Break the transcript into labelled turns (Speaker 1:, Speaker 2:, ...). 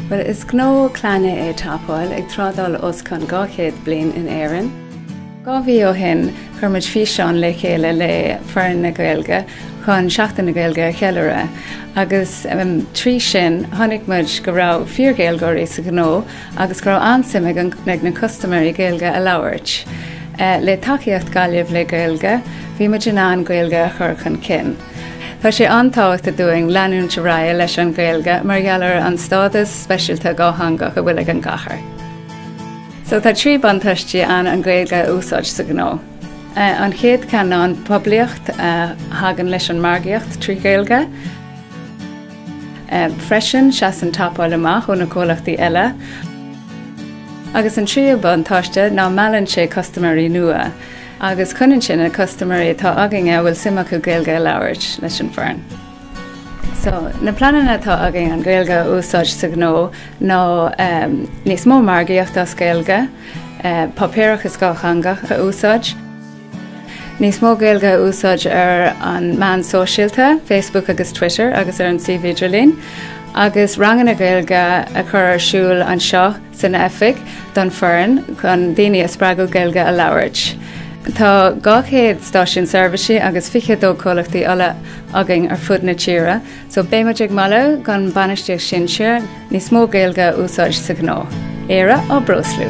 Speaker 1: Bhuel, is gnó clainne é Top Oil, ag trádáil os cionn 200 bliain in Éirinn. Dhá mhí ó shin chuir muid físeán le chéile le foireann na Gaeilge chun Seachtain na Gaeilge a cheiliúradh agus trí sin chonaic muid go raibh fíor-Ghaeilgeoirí sa ghnó agus go raibh an-suim ag na custaiméirí Gaeilge a labhairt. Le tacaíocht Gaillimh le Gaeilge bhí muid in ann Gaeilge a chur chun cinn. Tá sé an-tábhachtach dúinn leanúint ar aghaidh leis an Gaeilge mar gheall ar an stádas speisialta dhátheangach a bhfuil ag an gcathair. So tá trí buntáistí ann an Ghaeilge a úsáid sa ghnó. An chéad ceann ná an poiblíocht a thagann leis an margaíocht trí Ghaeilge. Freisin seasann Top Oil amach ó na comhlachtaí eile. Agus an tríú buntáiste ná meallann sé custaiméirí nua agus coinníonn sé na custaiméirí atá againn go bhfuil suim acu Gaeilge a labhairt leis an bhfoireann. So, na pleananna atá againn an Ghaeilge a úsáid sa ghnó ná níos mó margaíocht as Gaeilge, páipéarachas dátheangach a úsáid, níos mó Gaeilge a úsáid ar an meán sóisialta, Facebook agus Twitter, agus ar an suíomh idirlín, agus ranganna Gaeilge a chur ar siúl anseo. san oifig don foireann chun daoine a spreagadh Gaeilge a labhairt. Tá 200 stáisiún seirbhísí agus 22 comhlachtaí ola againn ar fud na tíre so beidh muid ag moladh don bainistíocht sinsear níos mó Gaeilge a úsáid sa ghnó. Éire á breoslú.